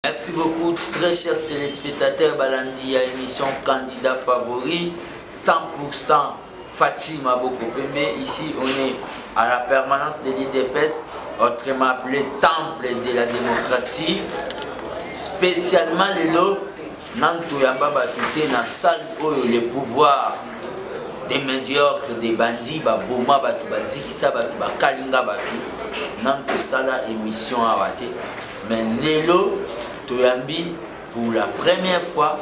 Merci beaucoup très cher téléspectateur balandi ya émission candidat favori 100% Fatih Maboko Pembe ici on est à la permanence de l'IDPS autrement appelé temple de la démocratie spécialement lelo nanu toyamba bato te na salle oyo le pouvoir des médiocres des bandits baboma bato bazikisa bato bakalinga bato nanu tosala émission awa te Mais lelo toyambi pour la première fois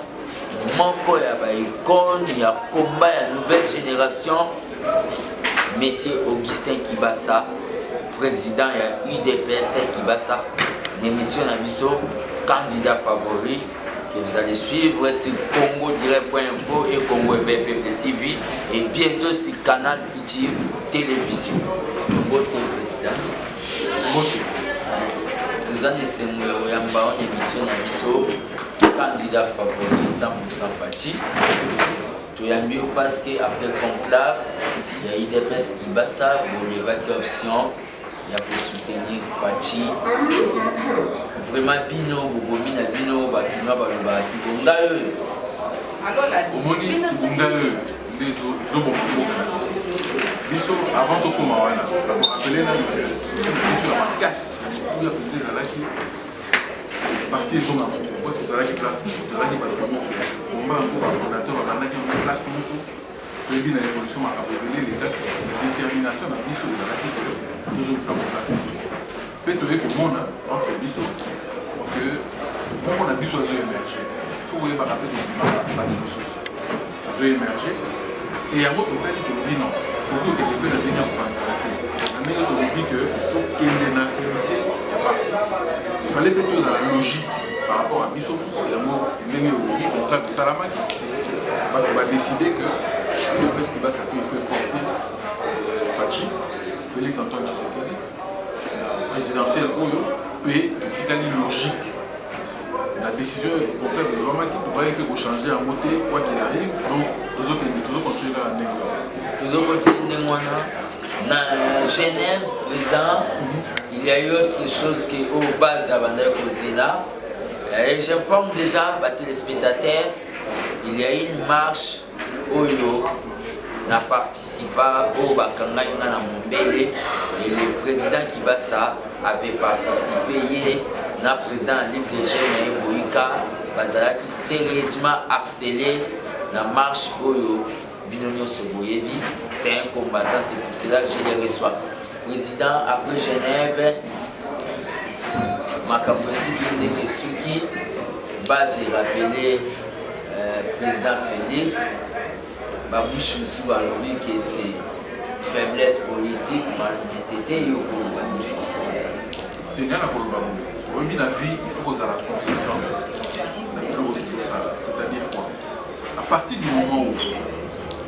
moko ya ba icone ya combat ya nouvelle génération monsieur Augustin Kibasa président ya UDPS Kibasa émission na biso candidat favori que vous allez suivre sur Congo Direct.info et Congo EBPP TV et bientôt sur Canal Futur Télévision. Bonjour, président. toza na esengo ya koyamba wana emission na biso candidat favori 100% faci toyambi yo parce que après conclave ya idps kibasa bolevaki option ya kosoutenir faci vraiment bino bobomi na bino bakinois balobaki bongai oyo omoni bongai oyo nde ezoboma mboka na biso biso avant tokoma wana nakorapele nanu susi na biso ya makasi ya motuya mpenza ezalaki parti ezonga moto parce que tozalaki place tozalaki bato ya moko komba yango bafondateur babandaki yango place moko toyebi na révolution makambo ebele elekaki détermination na biso ezalaki tozongisa mokasi Mpe toye komona entre biso que moko na biso azo emerger faut koyebaka mpe tobimaka bato mosusu azo emerger e yango totali tolobi non tokoki okende mpe na ndenge ya kopanzana te na ndenge tolobi que tokende na unité ya parti ifale mpe tozala logique par rapport à biso moko yango ndenge olobi contrat esalamaki bato badeside que udps kibasa mpe il faut eporte faci félix antoine tshisekedi présidentielle oyo mpe totikali logique la décision contraire ezwamaki tokaki mpe kochange yango te quoi qu'il arrive donc tozokende tozocontinue kaka ndenge wana tozocontinue ndenge wana na genève président il y a eu autre chose que oyo oh, base abandaki kozela et j'informe déjà batelespectateurs il y a une marche oyo na participa oyo bakangai nga na mombele et le président kibasa avait participé ye na président ya ligue de jeune ya eboyika bazalaki sérieusement harcelé na marche oyo bino nyonso boyebi c'est un combattant c'est pour cela je le reçois président après genève makambo esuki ndenge esuki base erapele euh, président félix babouche mosusu balobi ke se faiblesse politique malonete te yo koloba nini okokosa tenga na koloba boye oyebi na vie il faut kozala conséquent na biloko tozosala c'est-à-dire quoi à partir du moment où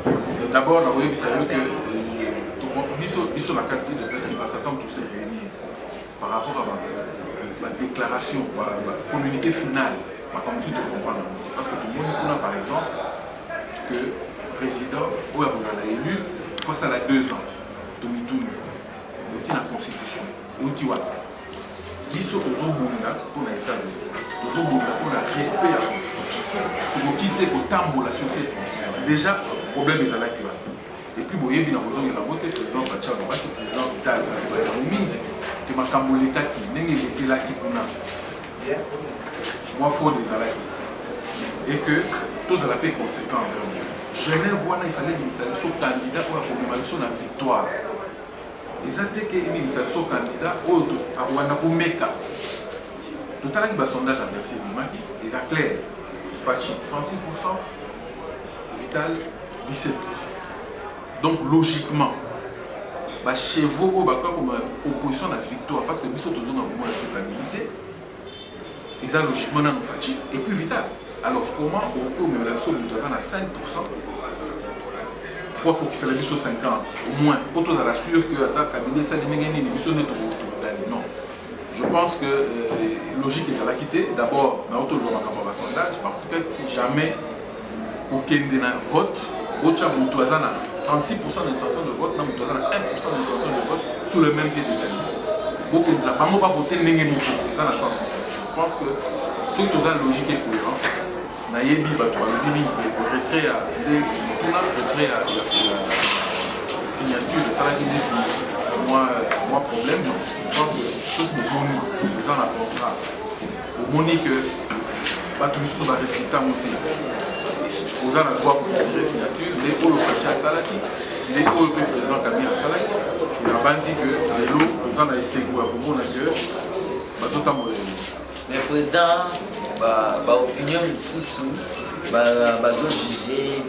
euh, d'abord nakoyebisa yo ke euh, biso na kati de place libasa ntango par rapport à ma déclaration, ma communiqué final, ma communiqué de comprendre. Parce que tout le monde, par exemple, que le président, ou a élu, face à la deux ans, tout le monde, il la constitution, il y a biso tozobunda mpo na etat tozobunda mpo na respect ya constitution tokoki te kotambola sur cette constitution déjà problème ezalaki wana Et puis boyebi na kozongela yango te president Fatshi alobaki president Vital alobaki yango mingi ke makambo elekaki ndenge elekelaki kuna mwa fraude ezalaki et que tozala mpe conséquent envers Genève wana ifale ebimisa biso candidat oyo akomema biso na victoire eza te ke ebimisa biso candidat oyo akobanda komeka totalaki basondage ya bercy ebimaki eza claire faci 36 pourcent Vital 17 donc logiquement bachevaux oyo bakoka koma opposition na victoire parce que biso tozonga komona sokabilité eza logiquement nano faci et puis vital alors comment okoki omemela biso moto aza na 5 mpo akokisela biso 50 au moins mpo tozala sur que ata kabila esali ndenge nini biso nde tokogani non Je pense que euh, logique ezalaki te d'abord naotoloba makambo ya basondage bakokaki jamais kokende na vote botya moto aza na 36 pourcent d'intention de vote na moto aza na 1 pourcent d'intention de vote sur le même pied d'égalité bokendela bango bavote ndenge moko eza na sens je pense que soki toza logique et cohérent Nayebi bato balobi mingi boye po retrait ya nde motuna retrait ya signature esalaki neti mwa mwa problème donc je pense que soki boboni eza na contrat omoni que bato mosusu barespecte yango te oza na droit koretire signature nde oyo faci asalaki nde oyo mpe président kabila asalaki nabanzi que lelo oza na esengo ya komona que bazotambola Mais président, ba, ba opinion misusu ba, bazo juger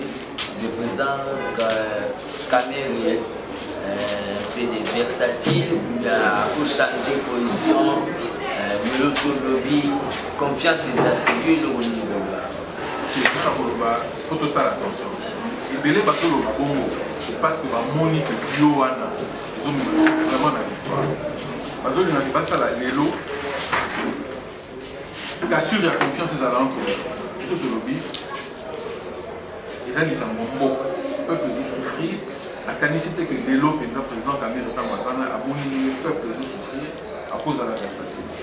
le président Kamerhe euh, fait des versatiles ou bien ako changer position euh, lelo tolobi confiance ezali yo eloko nini koloba tozala koloba faut tosala attention ebele bazoloba bongo parce que bamoni que yo wana bazolinga basala lelo kasure ya confiance ezala entre biso biso tolobi eza likambo mboka peuple ezosouffrir nakanisi te ke lelo mpenza président kamere ntango azana aboni ndenge peuple ezosouffrir akozala versatile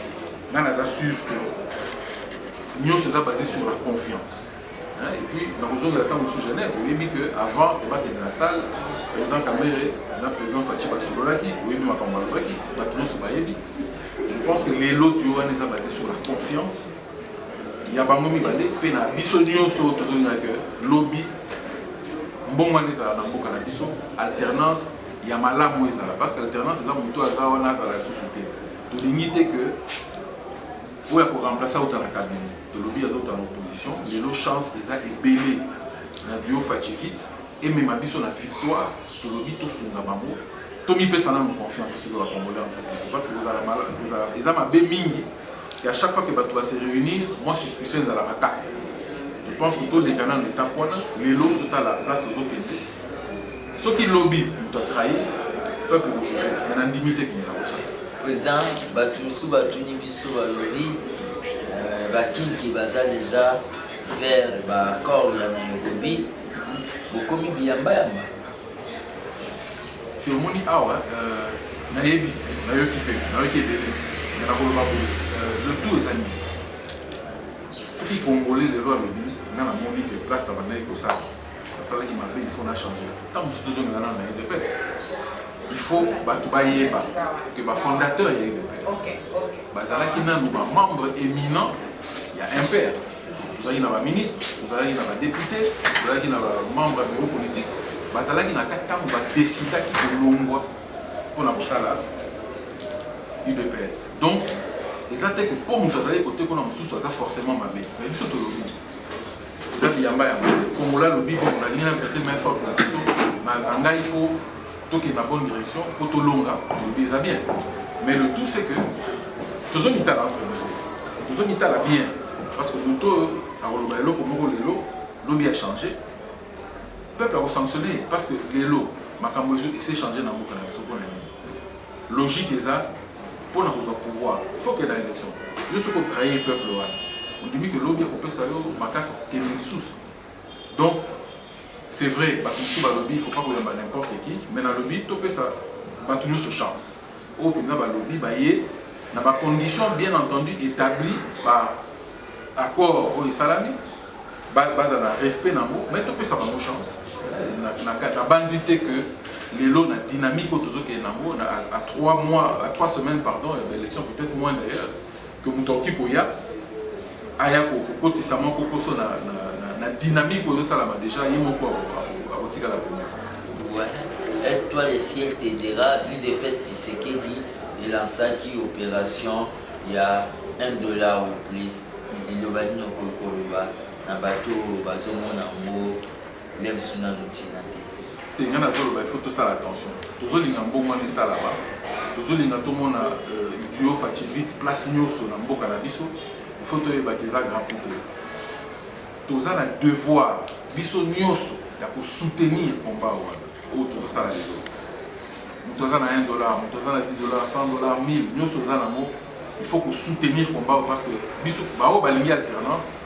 ngai naza sur que nyonso eza basé sur la confiance Hein, et puis nakozongela ntango mosusu genève oyebi que avant bakende na salle président kamere na président faci basololaki oyebi makambo balobaki bato nyonso bayebi je pense que lelo tuyo wana eza base sur la confiance ya bango mibale mpe na biso nyonso tozongela que lobi mbongo wana ezala na mboka na biso alternance ya malamu ezala parce que alternance eza moto aza wana azala lisusu te tolingi te que oyo ako remplacer auta na cabinet tolobi azauta na opposition lelo chance eza ebele na duo faci vite emema biso na victoire tolobi tosunga bango tomipesa nanu confiance biso loba congolais entre biso parce que kozala eza mabe mingi et à chaque fois que bato base réunir moi suspicion ezalaka kaka je pense que toleka nanu étape wana lelo totala place tozokende soki lobi moto atrahi peuple kojuge me na ndimi te moto akotrahi président bato mosusu batuni biso balobi euh, bakinki baza déjà vers baaccord ya nairobi bokomi biyambayamba tomoni awa euh, nayebi nayoki mpe nayoki ebele me nakoloba boye euh, le tout eza nini soki congolais lelo alobi nga namoni ke place na bandaki kosala asalaki mabe il faut na changer ntango mosusu tozongela nano na udps il faut bato bayeba ke bafondateur ya udps bazalaki nano bamembre éminent ya mpr tozalaki na baministre tozalaki na badepute tozalaki na bamembre ya bureau politique bazalaki na kati ntango badesidaki kolongwa mpo na kosala udps donc eza te ke mpo moto azali kote kuna mosusu aza forcément mabe mais biso tolobi Nzambe yamba ya Kongola lobi bo na lingana pete main forte na biso ma ngai po toke na bonne direction po to longa lobi eza bien mais le tout c'est que tozo mitala entre nous tozo mitala bien parce que moto oyo akoloba eloko moko lelo lobi a changer peuple ako sanctionner parce que lelo makambo ezo essayer changer na mboka na biso pona nini Logique eza mpo na kozwa pouvoir il faut okenda election yo soki otrahir peuple wana ondimi ke lobi akopesa yo makasi kokende lisusu donc c'est vrai bato mosusu balobi il faut pas koyamba n'importe qui mais nalobi topesa bato nyonso chance oyo mpenza balobi baye na bacondition bien entendu établi par accord oyo esalami bazala respect na yango mai topesa bango chance nabanzi te que lelo na dynamique oyo tozokende nango à 3 mois à 3 semaines pardon ya baélection peut-être moins d'ailleurs que moto akoki koya aya kokotisa mwa kokoso na, na, na, na dynamique oyo ezosalama déjà ye moko akotikala pema étoile ciel te dira udps tisekedi elansaki opération ya un dollar ou plus liloba nini okoki koloba na bato oyo bazomona yango lem biso nanu ntina te te ngai nazoloba il faut tosala attention tozolinga mbongo wana esalama tozolinga tomona euh, duo fativite place nyonso na mboka na biso il faut toyebaka eza grand te toza na devoir biso nyonso ya kosoutenir combat wana oyo tozosala lelo moto aza na 1 dollar moto aza na 10 dollar 100 dollar 1000 nyonso oza nango il faut kosoutenir combat oyo parce que biso baoyo balingi alternance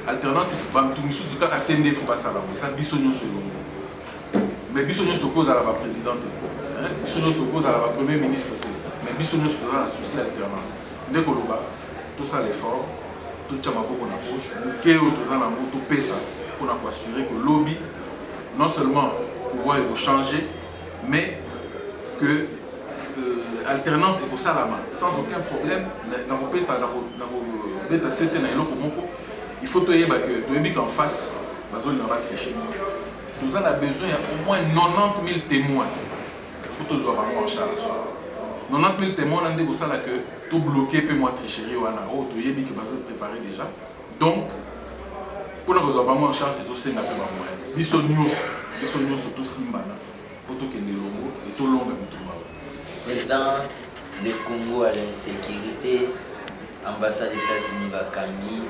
alternance bato mosusu kaka te nde fo basala yango eza biso nyonso elongo mais biso nyonso tokoki kozala baprésident te biso nyonso tokoki kozala bapremier ministre te mais biso nyonso toza na souci alternance nde koloba tosala effort totya maboko na poche moke oyo toza nango topesa mpona koassure que lobi Non seulement pouvoir eko changer mais que euh, alternance ekosalama sans aucun problème na kopesa na kobeta sete na eloko moko il faut toyeba que toyebi qu'en face bazolinga batriche toza na besoin ya au moins 90 000 témoins il faut tozwa bango en charge 90 000 témoins wana nde kosala que tobloke mpe mwa tricherie wana oyo toyebi que bazo préparer déjà donc mpo na kozwa bango en charge ezosenga mpe bamoyen biso nyonso biso nyonso tosimbana mpo tokende elongo e tolonga bitumba président le congo à l'insécurité ambassade états-unis bakangi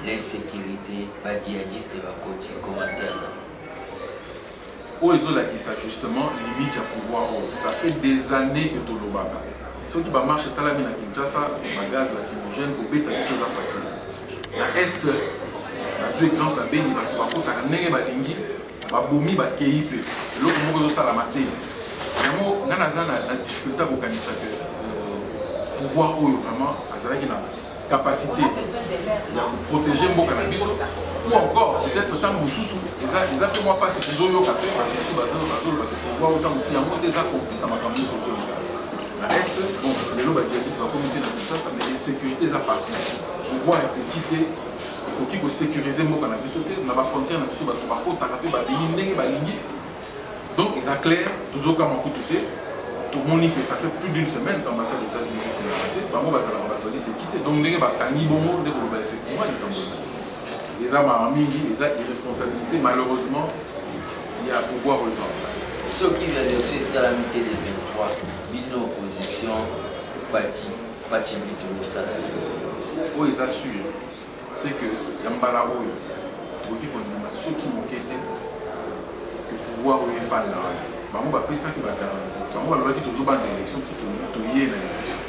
l'insécurité badjihadiste bakoti commentaire oyo ezo lakisa justement limite ya pouvoir oyo ça fait des annees que tolobaka soki ba marche esalami na Kinshasa ba gaz lacrymogène kobeta biso eza facile na est nazwi exemple ya Beni bato bakotaka ndenge balingi babomi bakei mpe eloko moko ezosalama te yango ngai naza na difficulté ya kokanisa ke euh, pouvoir oyo vraiment azalaki na capacité ya koprotege mboka na biso ou encore peut-être ntango mosusu eza eza mpe mwa mpasi tozoyoka mpe bato mosusu bazoloba pouvoir o ntango mosusu yango nde eza complice ya makambo nyonso ozoloba na est bon lelo badiakisi bakomi te na kinshasa mais insécurité eza partout pouvoir ekoki te ekoki kosécurise mboka na biso te na bafrontière na biso bato bakotaka mpe babimi ndenge balingi Donc eza clair, tozokamwa kutu te, tomoni que ça fait plus d'une semaine qu'ambassade des États-Unis ezofungola te, bango bazalaka bato ya liseki te, donc ndenge bakangi bongo nde koloba effectivement likambo eza eza mawa mingi, eza irresponsabilité malheureusement ya pouvoir oyo eza en place. Soki reaction esalami te le 23, bino opposition Fatshi Fatshi Vito bosala nini? Oyo eza sûr. c'est que ya mbala oyo okoki kondima soki moke te que pouvoir oyo efanda wana bango bapesaki bagaranti bango balobaki tozobanda élection biso toye na élection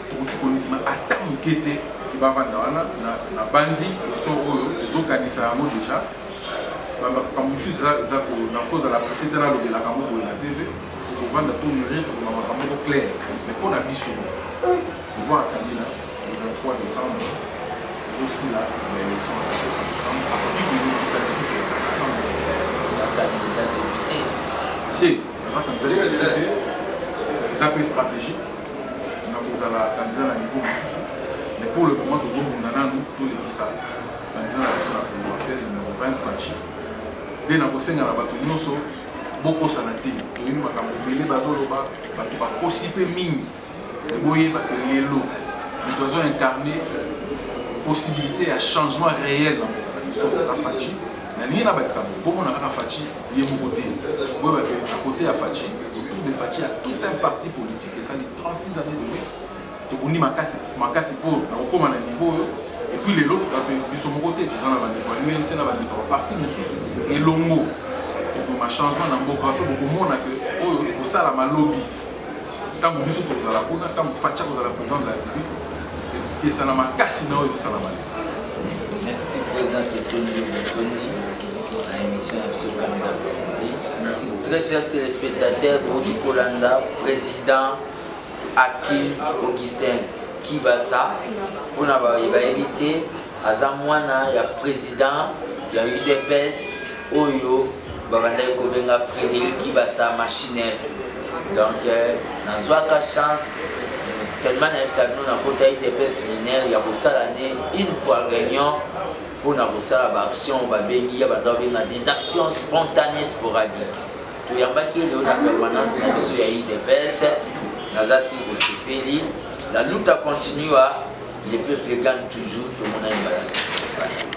tokoki kondima ata moke te ke bavanda wana na banzi esor oyo tozokanisa yango déjà makambo mosusu eza na kozala presse te nalobelaka yango boye na tv tokovanda tomire tokoma makambo moko claire mais mpo na biso pouvoir kabila Le 23 decembre ezosila na election ya 23 decembre akoki koyokisa lisusu ya kandida depute te aza kandida depute te eza mpe stratégique na kozala kandida na niveau mosusu mais pour le moment tozobunda nanu tolekisa kandida na biso na présidentiel numero 20 faci nde nakosenga na bato nyonso bokosana te toyebi makambo ebele bazoloba bato bakosi mpe mingi Mais boyeba que lelo moto azo incarner possibilité ya changement réel na mboka na biso eza Fatshi. Nalingi nabakisa yango bomona kaka Fatshi ye moko te, boyeba que à côté ya Fatshi, autour de Fatshi ya tout un parti politique esali 36 années de lutte tobundi makasi makasi mpo na kokoma na niveau oyo et puis lelo toza mpe biso moko te toza na bandeko ya unc na bandeko ya baparti mosusu elongo ekoma changement na mboka mpe bokomona ke oyo ekosalama lobi ntango biso tokozala kuna ntango fatia kozala président de la république ekesana makasi na oyo ezosala mali merci président totondi botondi na émission ya biso kanda merci beaucoup très cher téléspectateur booki kolanda président akim augustin kibasa mpona bayebi te aza mwana ya président ya udps oyo babandaki kobenga frédéric kibasa machinef donc euh, nazwaka chance tellement nayebisa bino nakota idps minere ya kosala ne une fois réunion mpo na kosala baaction babengi ya banda babenga des actions spontanées sporadique toyambaki ye lelo na permanence na biso ya idps naza si kosepeli la luta continua le peuple gagne toujours tomonani balasa